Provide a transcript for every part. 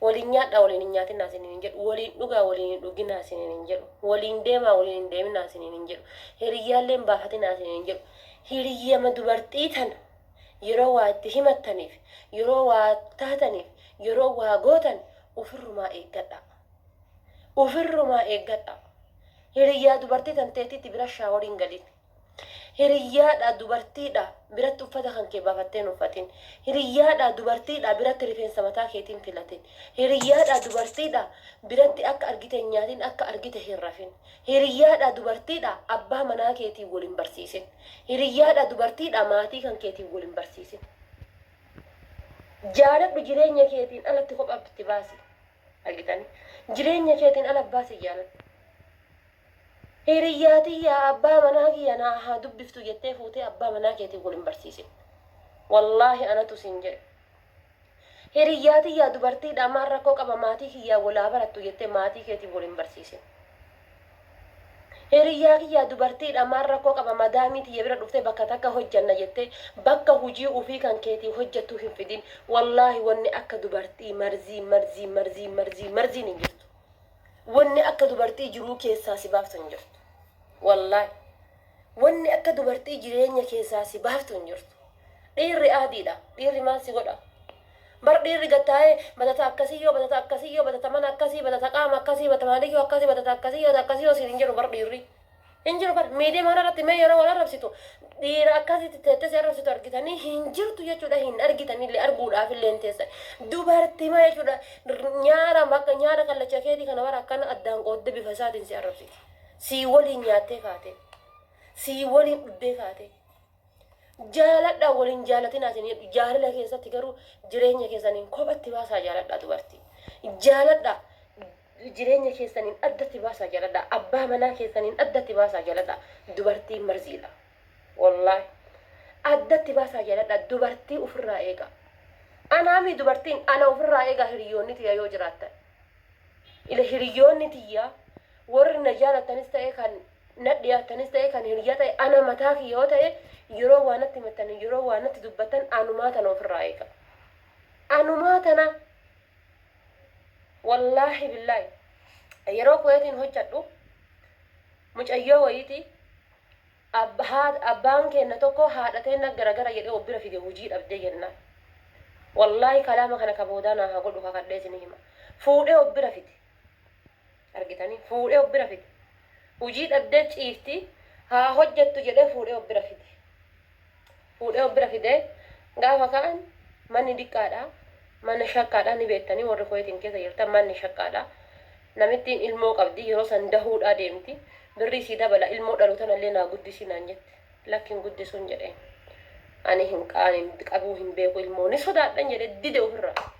Waliin nyaadhaa waliin hin nyaatinaa isiniin hin jedhu. Waliin dhugaa waliin hin dhuginaa isiniin hin jedhu. Waliin deemaa waliin hin deeminaa isiniin hin jedhu. Hiriyyaallee hin baafatinaa isiniin hin jedhu. Hiriyyama dubartii tana yeroo waa itti himattaniif, yeroo waa taataniif, yeroo waa gootan ofirrumaa eeggadhaa. Ofirrumaa eeggadhaa. Hiriyyaa dubartii tan teetitti bira shaaworiin galin. Hiriyyaadhaa, dubartiidhaa, biratti uffata kan kee baafattee hin uffatin. Hiriyyaadhaa, dubartiidhaa, biratti rifeensa mataa keetii hin filatin. Hiriyyaadhaa, dubartiidhaa, biratti akka argite hin nyaatin, akka argite hin rafin. Hiriyyaadhaa, dubartiidhaa, abbaa manaa keetiin wal hin barsiisin. Hiriyyaadhaa, dubartiidhaa, maatii kan keetiin wal hin barsiisin. Jaaladhu jireenya keetiin alatti kophaa itti baasi. Argitanii? Jireenya keetiin ala abbaa si jaaladhu. Hiriyyaa tiyya abbaa manaa kiyya naa haa dubbiftu jettee fuutee abbaa manaa keetiin wal hin barsiisin. Wallaahi anatu siin jedhe. Hiriyyaa tiyya dubartiidha maal rakkoo qaba maatii kiyyaan wal haa barattu jettee maatii keetiin wal hin barsiisin. Hiriyyaa kiyya dubartiidha maal rakkoo qaba madaamii tiyya bira dhuftee bakka takka hojjanna jettee bakka hujii ufii kan keetii hojjattuu hin fidin. Wallaahi wanni akka dubartii marzii marzii marzii marzii marziin hin jirtu. Wanni akka dubartii jiruu keessaa si baaftu hin jirtu. Wallaahi. Wanni akka dubartii jireenya keessaa si baaftu hin jirtu. Dhiirri aadiidha. Dhiirri maal si godha? Bar dhiirri gad taa'ee batata akkasii yoo batata akkasii yoo batata mana akkasii batata qaama akkasii batata maaliyyuu akkasii batata akkasii yoo akkasii yoo siin hin jedhu bar dhiirri. Hin jiru bar miidiyaa mana irratti mee yeroo wal arrabsitu dhiira akkasitti teettee si arrabsitu argitanii hin jirtu jechuudha hin argitanillee arguudhaaf illee hin teessan dubartii maa jechuudha nyaara bakka nyaara kallacha keetii kana bara akkana addaan qoodde bifa isaatiin si arrabsiti sii waliin nyaattee kaatee sii waliin dhuddee kaatee Jaaladhaa wal hin jaalatinaa isin jedhu jaalala keessatti garuu jireenya keessaniin kophatti baasaa jaaladhaa dubartii. Jaaladhaa jireenya keessaniin addatti baasaa jaaladhaa abbaa manaa keessaniin addatti baasaa jaaladhaa dubartii marziidha. Wallaahi addatti baasaa jaaladhaa dubartii ofirraa eegaa. Anaami dubartiin ana ofirraa eegaa hiriyoonni tiyya yoo jiraattan. Ila hiriyoonni tiyya warri na jaalattanis ta'e kan na dhiyaattanis ta'e kan hiriyyaa ta'e ana mataa kiyya yoo ta'e yeroo waa natti himattan yeroo waa natti dubbattan anumaa tana ofirraa eega anumaa tana wallaahi billaahi yeroo kuweetiin hojjadhu mucayyoo wayiiti abba- haa- abbaan keenna tokko haadha teenna garagara jedhee of bira fide hujii dhabdee jennaan wallaahi kalaama kana ka boodaa naa haa godhu kakadhee isinii hima fuudhee of bira fide argitanii fuudhee of bira fide. Hujii dhabdee ciifti haa hojjattu jedhee fuudhee of bira fide. Fuudhee of bira fidee gaafa ka'an manni diqqaadha. Mana shakkaadha ni beektanii warri Kuweetiin keessa jirtan manni shakkaadha. Namittiin ilmoo qabdi yeroo san dahuudhaa deemti. Birrii sii dabala ilmoo dhalu tanallee naa guddisi naan jette. Lakki hin guddisuun jedheen. Ani hin ani qabuu hin beeku ilmoo ni sodaadhan jedhee dide ofirraa.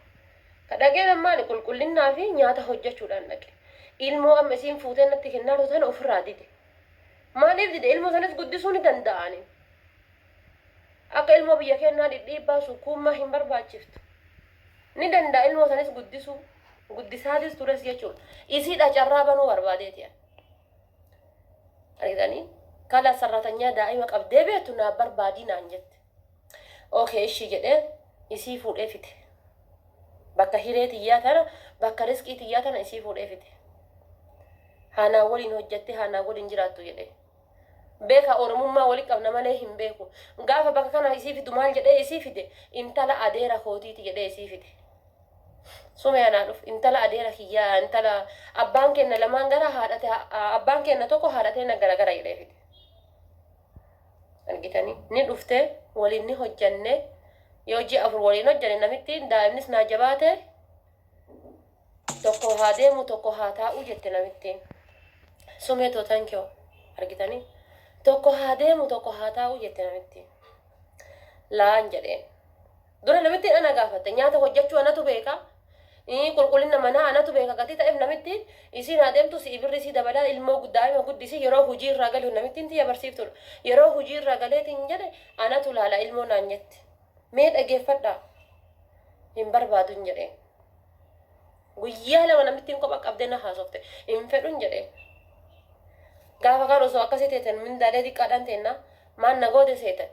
Ka dhaqee nan maali qulqullinnaa fi nyaata hojjachuudhaan dhaqe. Ilmoo amma isiin fuutee natti kennaa jirtu tana ofirraa dide. Maaliif dide? Ilmoo sanis guddisuu ni danda'a ani. Akka ilmoo biyya kennaa dhidhiibbaa sukkuummaa hin barbaachiftu. Ni danda'a ilmoo sanis guddisuu. Guddisaatis tures jechuudha. Isiidha carraa banuu barbaadeeti ani. Argitanii? Kala sarratanyaa daa'ima qabdee beektu naaf barbaadii naan jette. Ok eshii jedhee isii fuudhee fide. Bakka hiree tiyyaa tana bakka risqii tiyyaa tana isii fuudhee fide. Haa naa waliin hojjattee haa naa waliin jiraattu jedhee. Beeka Oromummaa wali qabna malee hin beeku. Gaafa bakka kana isii fidu maal jedhee isii fide intala adeera kootiiti jedhee isii fide. Sumeya naa dhuf intala adeera kiyyaa intala abbaan keenna lamaan gara haadhate abbaan keenna tokko haadhatee na gara gara jedhee fide. Argitanii? Ni dhufte, waliin ni hojjanne. Yoo ji'a afur waliin hojjanne namittiin daa'imnis naa jabaate tokko haa deemu tokko haa taa'u jette namittiin. Sumee too thank you. Argitanii? Tokko haa deemu tokko haa taa'u jette namittiin. Laan jedheen. Dura namittiin ana gaafatte. Nyaata hojjachuu anatu beeka. Qulqullina manaa anatu beeka gatii ta'eef namittiin isiin haa deemtu si'i birrii isii dabalaa ilmoo daa'ima guddisi yeroo hujii irraa galu namittiin tiyya barsiiftuudha. Yeroo hujii irraa galeetiin jedhe anatu laala ilmoo naan jette. Mee dhageeffadhaa hin barbaadu hin jedheen. Guyyaa lama namittiin kopha qabdee na haasofte hin fedhu hin jedheen. Gaafa kaan osoo akkasii teetan mindaalee diqqaadhaan teennaa maan na goote seetan.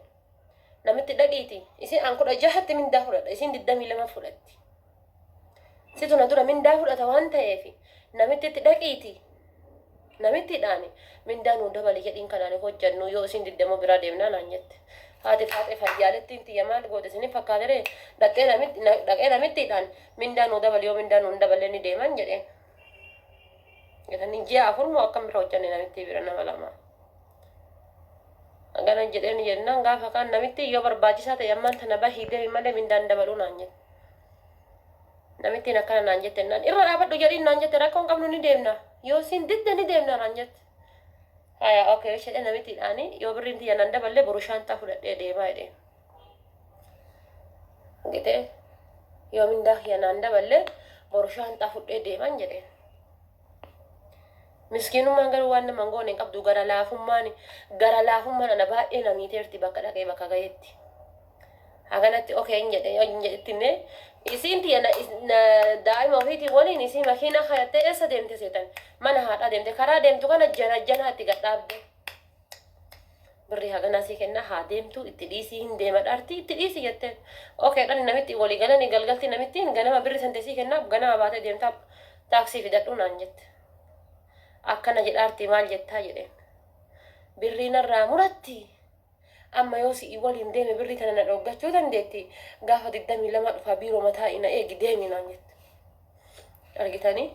Namitti dhaqiiti isin an kudha jahatti mindaa fudhadha isin digdamii lama fudhatti. Situ na dura mindaa fudhata waan ta'eef namitti itti dhaqiiti namittidhaan mindaa nuu dabali jedhiin kanaan hojjannu yoo isin digdama biraa deemnaa naan jette. Haati faaxee fayyaalettiin tiyya maal goote isin fakkaatere dhaqee namitti dhaqee namittidhaan mindaa nuu dabali yoo mindaa nuu dabalee ni deeman jedheen. Jedhanii ji'a afur moo akkam bira hojjanne namittii bira nama lama. Haganan jedheen jennaan gaafa kaan namittiin yoo barbaachisaa ta'e ammaan tana bahii deemi malee mindaan dabaluu naan jette. Namittiin akkana naan jette naan irra dhaabadhu jedhiin naan jette rakkoon qabnu ni deemna yoo siin didde ni deemna naan jette. Haya okay jedhee namittiidhaani yoo birriin tiyya naan daballee boru shaanxaa fudhadhee deemaa jedheen. Gitee yoo mindaa kiyya naan daballee boru shaanxaa fudhee deeman jedheen. Miskiinummaan garuu waan nama hin goone hin qabdu gara laafummaan gara laafummaan ana baay'ee na miiteerti bakka dhaqee bakka gaheetti. Haganatti okee hin jedhe hin jedhetti illee isiin tiyya na, na daa'ima ofiitiin waliin isii makiinaa kayattee eessa deemte seetan mana haadhaa deemte karaa deemtu kana jara janaa itti gad dhaabde. birrii haganaa sii kennaa haa deemtuu itti dhiisii hin deema dhaartii itti dhiisi jetteen okay dhani namitti walii galanii galgaltii namittiin ganama birri sante sii kennaa ganama baatee deemtaa taaksii fidadhuu naan jette akkana jedhaartii maal jettaa jedheen birrii narraa muratti amma yoo si'i waliin deeme birrii tana na dhooggachuu dandeetti gaafa digdamii lama dhufaa biiroo mataa ina eegi deemi naan jette argitanii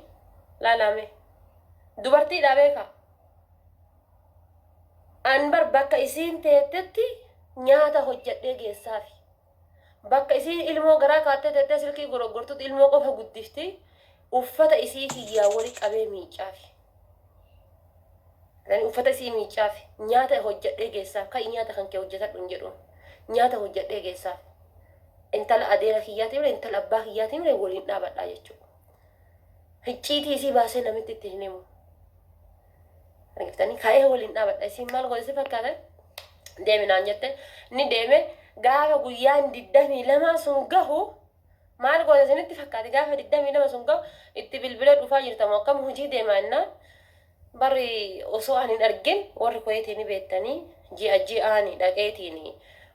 laalaame dubartiidhaa beekaa An bar bakka isiin teettetti nyaata hojjadhee geessaafi. Bakka isiin ilmoo garaa kaattee teettee silkii goroggortutti ilmoo qofa guddifti, uffata isii kiyyaa wali qabee miiccaafi. Ani uffata isii miiccaafi. Nyaata hojjadhee geessaaf. Ka'i nyaata kan kee hojjatadhu hin jedhuun. Nyaata hojjadhee geessaaf. Intala adeera kiyyaatii mire intala abbaa kiyyaatii mire waliin dhaabadhaa jechuudha. Hicciitii isii baasee namitti itti hin himu. Argiftanii ka'ee waliin dhaabadha. Isin maal godhe si fakkaate? Deemi naan jette. Ni deeme gaafa guyyaan digdamii lamaa sun gahu maal godhe isinitti fakkaate gaafa digdamii lama sun gahu itti bilbilee dhufaa jirtamu akkam hojii deemaa innaan barri osoo ani hin argin warri kuweetii ni beektanii ji'a ji'aani dhaqeetiin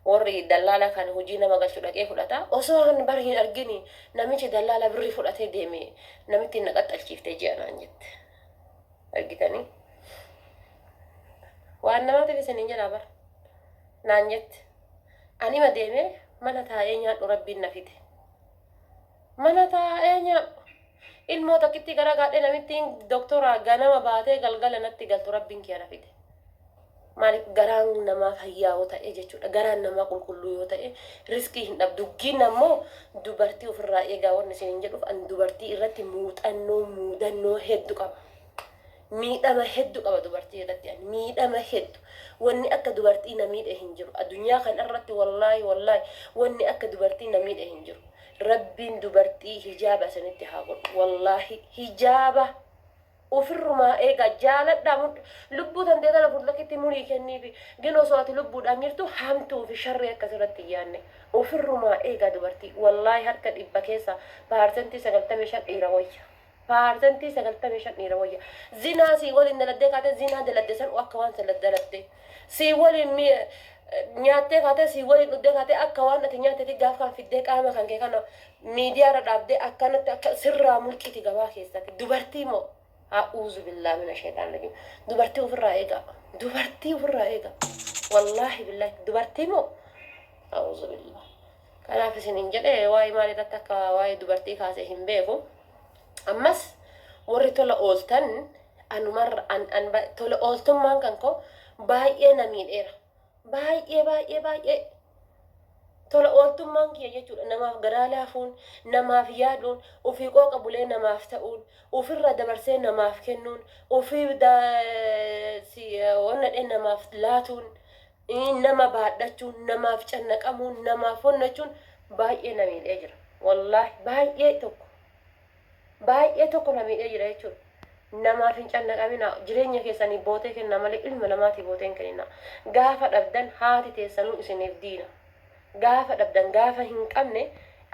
warri dallaala kan hojii nama galchu dhaqee fudhata osoo ani barri hin argin namichi dallaala birri fudhatee deeme namitti hin naqaxxalchiifte ji'a naan jette. argitanii waan namaatiif isiniin jedhaa bar naan jette anima deemee mana taa'ee nyaadhu rabbiin na fide mana taa'ee nyaadhu ilmoo takkitti gara gaadhee namittiin doktora ganama baatee galgala natti galtu rabbiin kiyya na fide Maaliif garaan namaa fayyaa yoo ta'e jechuudha. Garaan namaa qulqulluu yoo ta'e riskii hin dhabu. Duggiin ammoo dubartii ofirraa eegaa wanni isiniin jedhuuf an dubartii irratti muuxannoo muudannoo heddu qaba. Miidhama heddu qaba dubartii irratti an miidhama heddu. Wanni akka dubartii na miidhe hin jiru. Addunyaa kana irratti wallaahi wallaahi wanni akka dubartii na miidhe hin jiru. Rabbiin dubartii hijaaba isinitti haa godhu. Wallaahi hijaaba. Ufirrumaa egaa jaaladhaa mudda lubbuu tantee tana furlakitti murii kenniifi gin osoo ati lubbuudhaan jirtuu hamtuu fi sharrii akka sirratti hin yaanne ufirrumaa eegaa dubartii wallaahi harka dhibba keessaa paarsentii sagaltamii shan dhiira wayya paarsentii sagaltamii shan dhiira wayya zinaa sii waliin daladdee kaatee zinaa daladde san akka waan san daladde sii waliin mi nyaattee kaatee sii waliin dhuddee kaatee akka waan ati nyaattee fi gaaf kan fiddee qaama kan kee kana Midiyaa irra dhaabdee akkanatti akka sirraa mulqiti gabaa keessatti dubartii moo a'uuzubillaah mina sheexaan rajiim dubartii ofirraa eegaa dubartii ofirraa eegaa wallaahi billaahi dubartii moo a'uuzubillaah kanaaf isin hin jedhe waa'ee maal irratti akka waa'ee dubartii kaase hin beeku ammas warri tola ooltan anumarra an, an, ba- tola ooltummaan kan koo baay'ee na miidheera Baay'ee baay'ee baay'ee tola ooltummaan kiyya jechuudha. Namaaf garaa laafuun, namaaf yaaduun, ofii qooqa bulee namaaf ta'uun, ofirraa dabarsee namaaf kennuun, ofii onnadhee namaaf laatuun, nama baadhachuun, namaaf cannaqamuun, namaaf honnachuun baay'ee na miidhee jira. Wallaahi baay'ee tokko. baay'ee tokko na miidhee jira jechuudha. Namaaf hin cannaqaminaa, jireenya keessaniif bootee kennaa malee ilma namaatiif bootee hin keninaa. Gaafa dhabdan haati teessanuu isiniif diina. Gaafa dhabdan, gaafa hin qabne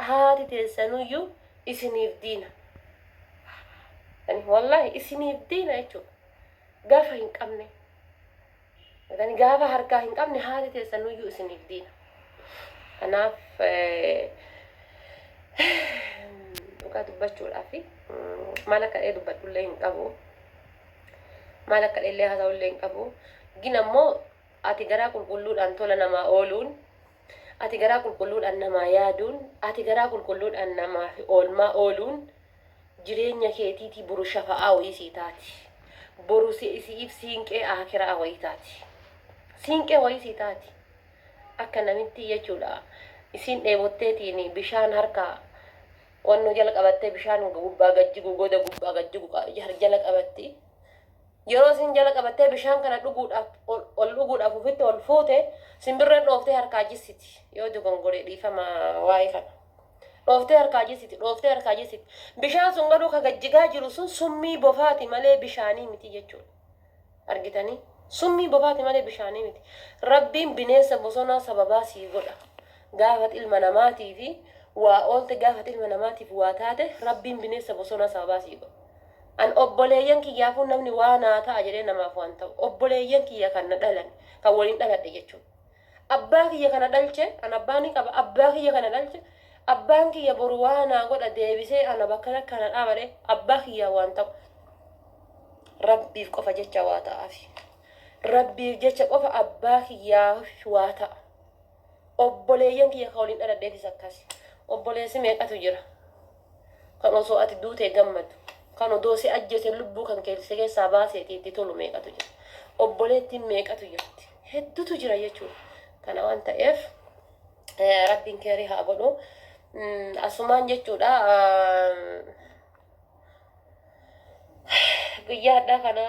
haati teessanuyyuu isiniif diina. Wallaahi isiniif diina jechuudha. Gaafa hin qabne. Kan gaafa harkaa hin qabne haati teessan nuyyuu isiniif diina. Kanaaf dhugaa dubbachuudhaaf maal akka dhee dubbadhullee hin qabu. Maal akka dheellee haasa'ullee hin qabu. Gin ammoo ati garaa qulqulluudhaan tola namaa ooluun ati garaa qulqulluudhaan namaa yaaduun ati garaa qulqulluudhaan namaaf oolmaa ooluun Jireenya keetiitii boru shafa'aa wayii sii taati. Boru si isi'iif siinqee aakira'aa wayii taati. Siinqee wayii sii taati. Akka namittii jechuudha. Isiin dheebotteetiin bishaan harka wannoo jala qabattee bishaan gubbaa gad jigu goda gubbaa gad jigu qa- jar- jala qabatti. Yeroo isiin jala qabattee bishaan kana dhuguudhaaf ol ol dhuguudhaaf ofitti ol fuute simbirreen dhooftee harkaa jissiti. Yoo dogongore dhiifama waa'ee kana. Dhooftee harkaa jessiti, dhooftee harkaa jessiti. Bishaan sun garuu ka gad jigaa jiru sun summii bofaati malee bishaanii miti jechuudha. Argitanii? Summii bofaati malee bishaanii miti. Rabbiin bineensa bosonaa sababaa sii godha. Gaafat ilma namaatii fi waa oolte gaafat ilma namaatiif waa taate rabbiin bineensa bosonaa sababaa sii godha. An obboleeyyan kiyyaafuu namni waa naa ta'a jedhee namaaf waan ta'u. Obboleeyyan kiyya kan na dhalan kan waliin dhaladhe jechuudha. Abbaa kiyya kana dhalche, an abbaa ni qaba, abbaa kiyya kana dhalche, abbaan kiyya boru waa naa godha deebisee ana bakka takkaa na dhaaba dhee abbaa kiyyaa waan ta'u rabbiif qofa jecha waa ta'aafi. Rabbiif jecha qofa abbaa kiyyaa waa ta'a. Obboleeyyan kiyya ka waliin dhaladheefis akkas. Obboleessi meeqatu jira. Kan osoo ati duutee gammadu, kan odoo si ajjeese lubbuu kan kee si keessaa baaseetii itti tolu meeqatu jira. Obboleettiin meeqatu jirti. Heddutu jira jechuudha. Kana waan ta'eef eh, rabbiin keerii haa godhu. Mm, Asumaan jechuudha ah, guyyaa hadhaa kana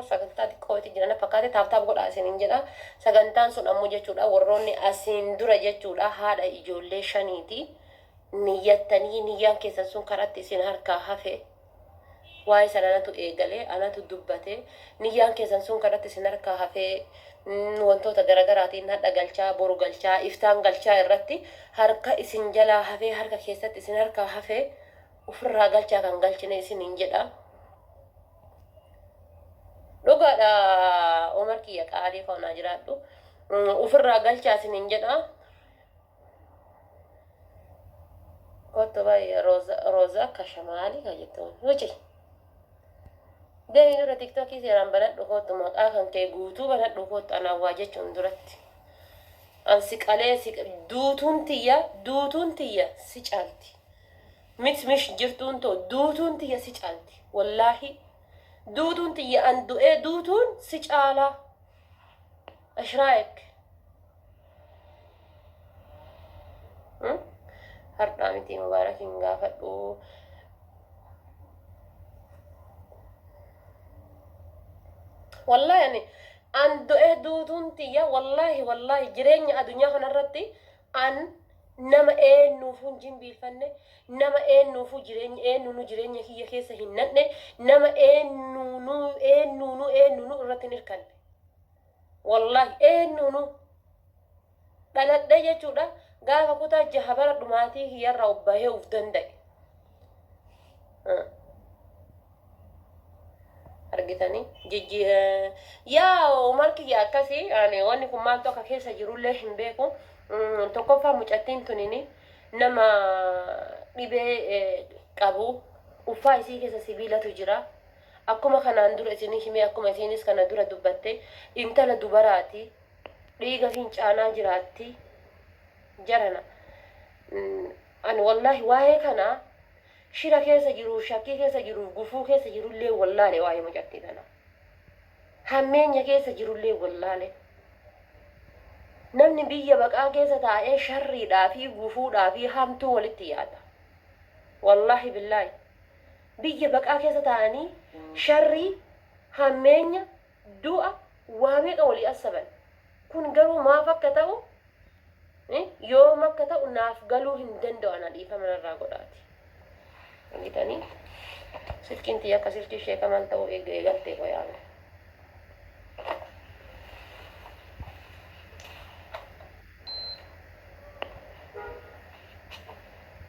sagantaa xiqqootti jiran fakkaate taaptaap godhaa isiniin jedha. Sagantaan sun ammoo jechuudha warroonni asiin dura jechuudha haadha ijoollee shaniiti. niyyattanii niyyaan keessan sun karatti isin harkaa hafe waa'ee san anatu eegale anatu dubbate niyyaan keessan sun karatti isin harkaa hafee mm, wantoota garagaraatiin hadha galchaa boru galchaa iftaan galchaa irratti harka isin jalaa hafee harka keessatti isin harkaa hafee ofirraa galchaa kan galchine isiniin jedha dhugaadha omar kiyya qaalii koo naa jiraadhu Mm, ofirraa galchaa isiniin jedha Kottu baay'ee Roza Roza akka shamaali ka jettuun wuci. Deemi dura tiktokii seeraan banadhu kottu maqaa kan kee guutuu banadhu kottu anaa waa jechuun duratti. An si qalee si duutuun tiyya duutuun tiyya si caalti. Mit mish jirtuun too duutuun tiyya si caalti. Wallaahi duutuun tiyya an du'ee duutuun si caalaa. Ashraek. Hmm? Hardhaa miti Mubaarak hin gaafadhu. Wallahi ani an du'ee duutuun tiyya wallahi wallahi jireenya adunyaa kanarratti an nama eennuufuu hin jimbiilfanne nama eennuufuu jireenya eennuunu jireenya kiyya keessa hin nadhe nama eennuunu eennuunu eennuunu irratti hin hirkanne. Wallahi eennuunu dhaladhee jechuudha gaafa kutaa jaha bara dhumaatii kiyyarraa of bahee of danda'e. argitanii jijji yaa umar kiyya akkasi ani wanni kun maaltu akka keessa jirullee hin beeku tokkoffaa mucattiin tunini nama dhibee qabu uffaa isii keessa sibiilatu jira Akkuma kanaan dura isinii hime akkuma isiinis kana dura dubbatte intala dubaraati dhiiga fincaanaa jiraatti jarana ani wallaahi waa'ee kana shira keessa jiruuf shakkii keessa jiruuf gufuu keessa jirullee wallaale waa'ee mucattii kana hammeenya keessa jirullee wallaale namni biyya baqaa keessa taa'ee sharriidhaa fi gufuudhaa fi hamtuu walitti yaada wallaahi billaahi Biyya baqaa keessa taa'anii sharrii, hammeenya, du'a waa meeqa walii assaban. Kun garuu maaf akka ta'u, yoom akka ta'u naaf galuu hin danda'u ana dhiifama narraa godhaati. Argitanii? Silkiin tiyya akka silkii Sheek Kamaal ta'uu eega eegaltee qoy amma.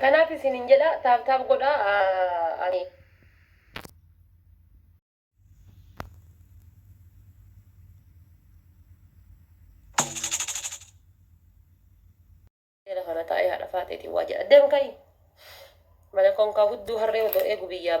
Kanaaf isinin jedha taap taap godha ani. Jala kana taa'ee haadha faaxeetiin waa jedha deem ka'i. Mana konkaa hudduu harree odoo eegu biyyaa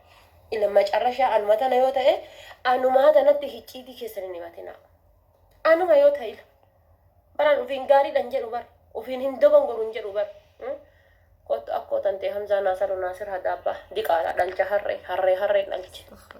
Ila macarashaa anuma tana yoo ta'e anumaa tanatti hicciitii keessan hin himatinaa. Anuma yoo ta'e ila. Baraan ofiin gaariidhan jedhu bar. Ofiin hin dogongoru hin jedhu bar. Hmm? Kottu akkoo tantee Hamzaa Naasaroo Naasir Hadaabbaa diqaalaa dhalcha harree harree harree dhalche.